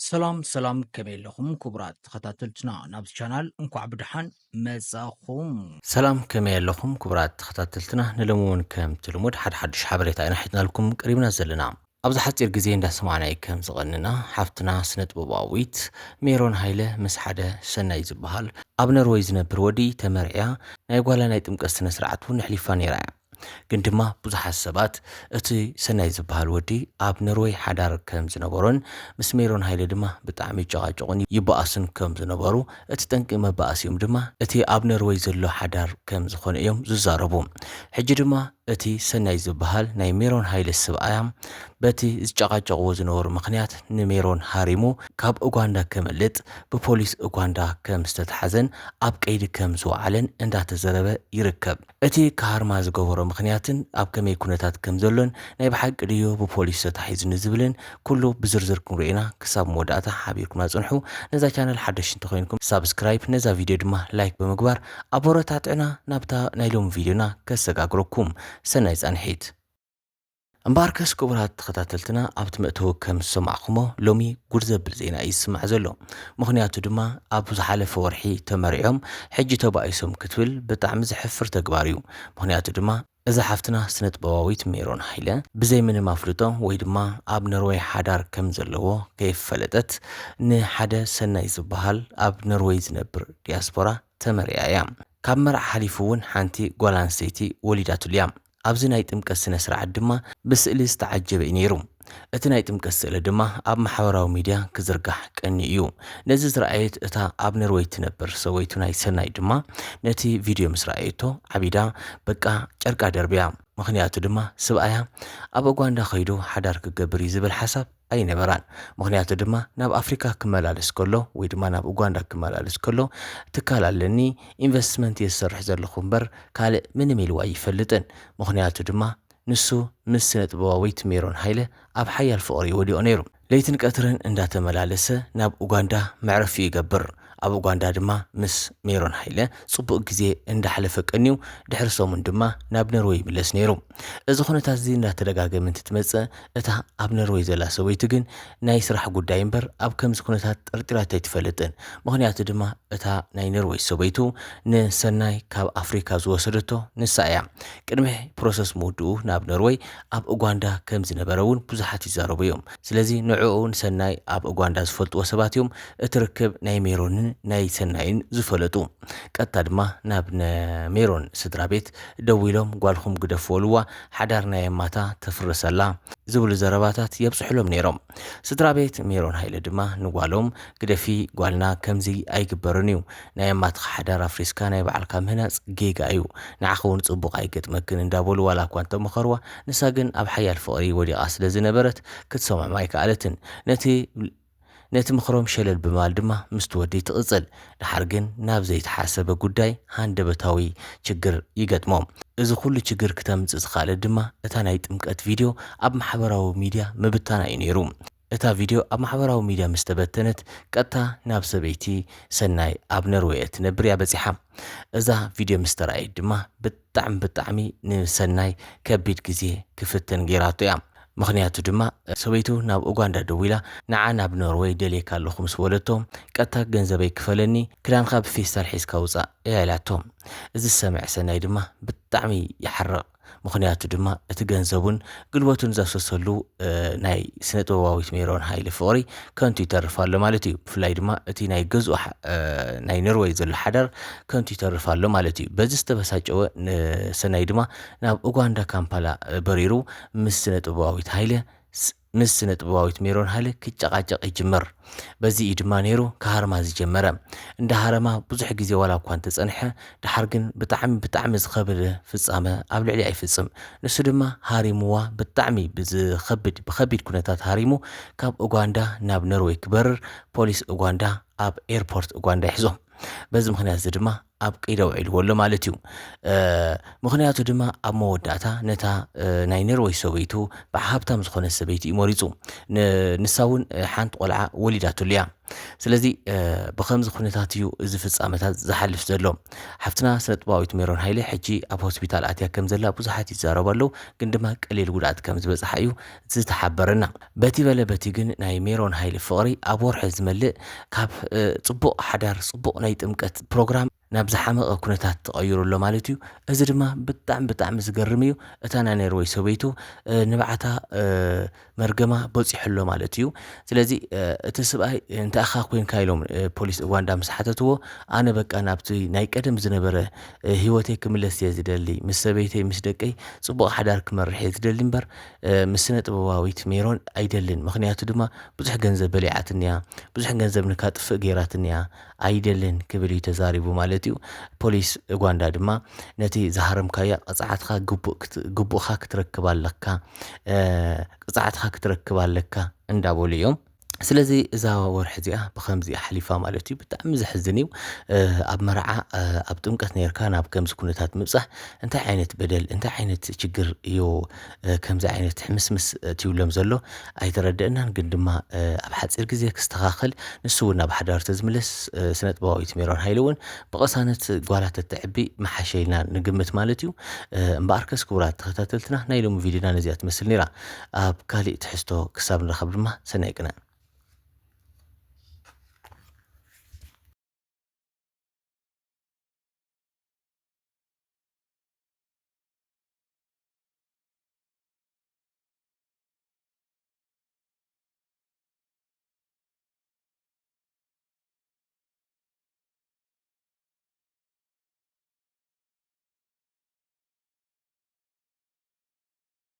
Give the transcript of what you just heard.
ሰላም ሰላም ከመይ ኣለኹም ክቡራት ተኸታተልትና ናብዚ ቻናል እንኳዕ ብድሓን መጻኹም ሰላም ከመይ ኣለኹም ክቡራት ተኸታተልትና ንሎሚ እውን ከምቲ ልሙድ ሓደ ሓዱሽ ሓበሬታ ኢና ሒዝናልኩም ቀሪብና ዘለና ኣብዚ ሓጺር ግዜ እንዳሰማዕናይ ከም ዝቐንና ሓፍትና ስነጥበባዊት ሜሮን ሃይለ ምስ ሓደ ሰናይ ዝበሃል ኣብ ነርወይ ዝነብር ወዲ ተመርዕያ ናይ ጓላ ናይ ጥምቀት ስነ ስርዓት ውን ኣሕሊፋ ኔራ እያ ግን ድማ ብዙሓት ሰባት እቲ ሰናይ ዝበሃል ወዲ ኣብ ነርወይ ሓዳር ከም ዝነበሮን ምስ ሜሮን ሃይለ ድማ ብጣዕሚ ይጨቓጨቑን ይበኣሱን ከም ዝነበሩ እቲ ጠንቂ መባኣሲኦም ድማ እቲ ኣብ ነርወይ ዘሎ ሓዳር ከም ዝኾነ እዮም ዝዛረቡ። ሕጂ ድማ እቲ ሰናይ ዝበሃል ናይ ሜሮን ሃይለ ስብኣያ በቲ ዝጨቓጨቕዎ ዝነበሩ ምኽንያት ንሜሮን ሃሪሙ ካብ ኡጋንዳ ከምልጥ ብፖሊስ ኡጋንዳ ከም ዝተትሓዘን ኣብ ቀይዲ ከም ዝወዓለን እንዳተዘረበ ይርከብ። እቲ ክሃርማ ዝገበሮ ምኽንያትን ኣብ ከመይ ኩነታት ከም ዘሎን፣ ናይ ብሓቂ ድዩ ብፖሊስ ተታሒዙ ንዝብልን ኩሉ ብዝርዝር ክንሪኦ ኢና ክሳብ መወዳእታ ሓቢርኩምና ጽንሑ ነዛ ቻነል ሓደሽቲ እንተኾይንኩም ሳብስክራይብ ነዛ ቪድዮ ድማ ላይክ ብምግባር ኣቦረታትዑና ናብታ ናይ ሎሚ ቪድዮና ከሰጋግረኩም ሰናይ ጻንሒት። እምበኣርከስ ክቡራት ተኸታተልትና ኣብቲ መእተዊ ከም ዝሰማዕኩሞ ሎሚ ጉድ ዘብል ዜና እዩ ዝስማዕ ዘሎ ምኽንያቱ ድማ ኣብ ዝሓለፈ ወርሒ ተመሪዖም ሕጂ ተባኢሶም ክትብል ብጣዕሚ ዘሕፍር ተግባር እዩ ምኽንያቱ ድማ እዛ ሓፍትና ስነጥበባዊት ሜሮን ሃይለ ብዘይ ምንም ኣፍልጦ ወይ ድማ ኣብ ኖርወይ ሓዳር ከም ዘለዎ ከይፈለጠት ንሓደ ሰናይ ዝበሃል ኣብ ኖርወይ ዝነብር ዲያስፖራ ተመሪዓ እያ ካብ መርዓ ሓሊፉ እውን ሓንቲ ጓል ኣንስተይቲ ወሊዳትሉ እያ ኣብዚ ናይ ጥምቀት ስነ ስርዓት ድማ ብስእሊ ዝተዓጀበ እዩ ነይሩ። እቲ ናይ ጥምቀት ስእሊ ድማ ኣብ ማሕበራዊ ሚድያ ክዝርጋሕ ቀንዩ እዩ። ነዚ ዝረኣየት እታ ኣብ ነርወይ ትነብር ሰበይቱ ናይ ሰናይ ድማ ነቲ ቪድዮ ምስ ረኣየቶ ዓቢዳ በቃ ጨርቃ ደርብያ። ምኽንያቱ ድማ ስብኣያ ኣብ ኡጋንዳ ከይዱ ሓዳር ክገብር እዩ ዝብል ሓሳብ ኣይነበራን ምክንያቱ ድማ ናብ ኣፍሪካ ክመላለስ ከሎ ወይ ድማ ናብ ኡጋንዳ ክመላለስ ከሎ ትካል ኣለኒ ኢንቨስትመንት እየ ዝሰርሕ ዘለኹ እምበር ካልእ ምንም ኢልዎ ኣይፈልጥን ምክንያቱ ድማ ንሱ ምስ ስነጥበባዊት ሜሮን ሃይለ ኣብ ሓያል ፍቅሪ ወዲቁ ነይሩ ለይትን ቀትርን እንዳተመላለሰ ናብ ኡጋንዳ መዕረፊኡ ይገብር ኣብ ኡጋንዳ ድማ ምስ ሜሮን ሃይለ ጽቡቕ ግዜ እንዳሕለፈ ቀንዩ ድሕሪ ሰሙን ድማ ናብ ነርወይ ይምለስ ነይሩ። እዚ ኩነታት እዚ እንዳተደጋገመ እንትትመጽእ እታ ኣብ ነርወይ ዘላ ሰበይቱ ግን ናይ ስራሕ ጉዳይ እምበር ኣብ ከምዚ ኩነታት ጠርጢራቶ ኣይትፈልጥን። ምኽንያቱ ድማ እታ ናይ ነርወይ ሰበይቱ ንሰናይ ካብ ኣፍሪካ ዝወሰደቶ ንሳ እያ። ቅድሚ ፕሮሰስ ምውድኡ ናብ ነርወይ ኣብ ኡጋንዳ ከም ዝነበረ እውን ብዙሓት ይዛረቡ እዮም። ስለዚ ንዕኡ ንሰናይ ኣብ ኡጋንዳ ዝፈልጥዎ ሰባት እዮም እቲ ርክብ ናይ ሜሮንን ናይ ሰናይን ዝፈለጡ። ቀጥታ ድማ ናብ ን ሜሮን ስድራ ቤት ደዊሎም ጓልኹም ግደፉ በልዋ ሓዳር ናይ ኣማታ ተፍርስ ኣላ ዝብሉ ዘረባታት የብጽሑሎም ነይሮም። ስድራ ቤት ሜሮን ሃይለ ድማ ንጓሎም ግደፊ ጓልና ከምዚ ኣይግበርን እዩ ናይ ኣማትካ ሓዳር ኣፍሪስካ ናይ ባዕልካ ምህናጽ ጌጋ እዩ ንዓኺ ውን ጽቡቅ ኣይገጥመክን እንዳበሉ ዋላ እኳ እንተመኸርዋ ንሳ ግን ኣብ ሓያል ፍቅሪ ወዲቃ ስለ ዝነበረት ክትሰምዖም ኣይከኣለትን ነቲ ነቲ ምኽሮም ሸለል ብምባል ድማ ምስቲ ወዲ ትቅጽል ድሓር ግን ናብ ዘይተሓሰበ ጉዳይ ሃንደበታዊ ችግር ይገጥሞም እዚ ኩሉ ችግር ክተምጽእ ዝኸኣለት ድማ እታ ናይ ጥምቀት ቪድዮ ኣብ ማሕበራዊ ሚድያ ምብታና እዩ ኔሩ። እታ ቪድዮ ኣብ ማሕበራዊ ሚድያ ምስ ተበተነት፣ ቀጥታ ናብ ሰበይቲ ሰናይ ኣብ ነርወይ እትነብር እያ በጺሓ። እዛ ቪድዮ ምስ ተራእየት ድማ ብጣዕሚ ብጣዕሚ ንሰናይ ከቢድ ግዜ ክፍተን ገይራቶ እያ። ምኽንያቱ ድማ ሰበይቱ ናብ ኡጋንዳ ደዊላ ንዓ ናብ ኖርወይ ደልየካ ኣለኹ ምስ በለቶ፣ ቀጥታ ገንዘበይ ክፈለኒ ክዳንኻ ብፌስታል ሒዝካ ውጻእ እያ ኢላቶ። እዚ ዝሰምዐ ሰናይ ድማ ብጣዕሚ ይሓርቕ። ምኽንያቱ ድማ እቲ ገንዘቡን ግልበቱን ዘፍሰሰሉ ናይ ስነ ጥበባዊት ሜሮን ሃይለ ፍቕሪ ከንቱ ይተርፍ ኣሎ ማለት እዩ ብፍላይ ድማ እቲ ናይ ገዝኡ ናይ ኖርወይ ዘሎ ሓዳር ከንቱ ይተርፍ ኣሎ ማለት እዩ በዚ ዝተበሳጨወ ሰናይ ድማ ናብ ኡጋንዳ ካምፓላ በሪሩ ምስ ስነ ጥበባዊት ሃይለ ምስ ስነጥበባዊት ሜሮን ሃይለ ክጨቃጨቅ ይጅምር። በዚ እዩ ድማ ነይሩ ክሃርማ ዝጀመረ። እንዳ ሃረማ ብዙሕ ግዜ ዋላ እኳ እንተጸንሐ ደሓር ግን ብጣዕሚ ብጣዕሚ ዝኸብድ ፍጻመ ኣብ ልዕሊኣ ይፍጽም። ንሱ ድማ ሃሪምዋ ብጣዕሚ ብዝኸብድ ብኸቢድ ኩነታት ሃሪሙ ካብ ኡጋንዳ ናብ ነርወይ ክበርር ፖሊስ ኡጋንዳ ኣብ ኤርፖርት ኡጋንዳ ይሕዞ። በዚ ምኽንያት እዚ ድማ ኣብቂደ ውዒልዎ ኣሎ ማለት እዩ ምክንያቱ ድማ ኣብ መወዳእታ ነታ ናይ ነርወይ ሰበይቱ በዓ ሃብታም ዝኾነት ሰበይቲ እዩ መሪፁ ንሳ እውን ሓንቲ ቆልዓ ወሊዳትሉ እያ ስለዚ ብከምዚ ኩነታት እዩ እዚ ፍፃመታት ዝሓልፍ ዘሎ ሓፍትና ስነጥባዊት ሜሮን ሃይለ ሕጂ ኣብ ሆስፒታል ኣትያ ከም ዘላ ብዙሓት ይዛረቡ ኣለዉ ግን ድማ ቀሊል ጉድኣት ከም ዝበፅሓ እዩ ዝተሓበረና። በቲ በለ በቲ ግን ናይ ሜሮን ሃይለ ፍቕሪ ኣብ ወርሒ ዝመልእ ካብ ጽቡቕ ሓዳር ጽቡቕ ናይ ጥምቀት ፕሮግራም ናብ ዝሓመቐ ኩነታት ተቐይሩ ኣሎ ማለት እዩ። እዚ ድማ ብጣዕሚ ብጣዕሚ ዝገርም እዩ። እታ ናይ ነርወይ ሰበይቱ ንብዓታ መርገማ በፂሑ ኣሎ ማለት እዩ። ስለዚ እቲ ስብኣይ እንተኣኻ ኮንካ ኢሎም ፖሊስ ኡጋንዳ ምስ ሓተትዎ ኣነ በቃ ናብቲ ናይ ቀደም ዝነበረ ሂወተይ ክምለስ እየ ዝደሊ ምስ ሰበይተይ ምስ ደቀይ ፅቡቕ ሓዳር ክመርሕ እየ ዝደሊ እምበር ምስ ስነ ጥበባዊት ሜሮን ኣይደልን ምክንያቱ ድማ ብዙሕ ገንዘብ በሊዓትኒያ ብዙሕ ገንዘብ ንካጥፍእ ገይራትኒያ ኣይደልን ክብል እዩ ተዛሪቡ ማለት እዩ ፖሊስ ኡጋንዳ ድማ ነቲ ዝሃረምካያ ቅፅዓትካ ግቡእካ ክትረክብ ኣለካ ቅፅዓትካ ክትረክብ ኣለካ እንዳበሉ እዮም ስለዚ እዛ ወርሒ እዚኣ ብከምዚ እያ ሓሊፋ ማለት እዩ ብጣዕሚ ዘሕዝን እዩ ኣብ መርዓ ኣብ ጥምቀት ነርካ ናብ ከምዚ ኩነታት ምብፃሕ እንታይ ዓይነት በደል እንታይ ዓይነት ችግር እዩ ከምዚ ዓይነት ሕምስምስ ትብሎም ዘሎ ኣይተረደአናን ግን ድማ ኣብ ሓፂር ግዜ ክስተኻኸል ንሱ እውን ናብ ሓዳር ተዝምለስ ስነ ጥበባዊት ሜሮን ሃይለ እውን ብቐሳነት ጓላ ተትዕቢ መሓሸ ኢልና ንግምት ማለት እዩ እምበኣርከስ ክቡራት ተኸታተልትና ናይ ሎሚ ቪድዮና ነዚኣ ትመስል ነይራ ኣብ ካሊእ ትሕዝቶ ክሳብ ንራኸብ ድማ ሰናይ ቅነ።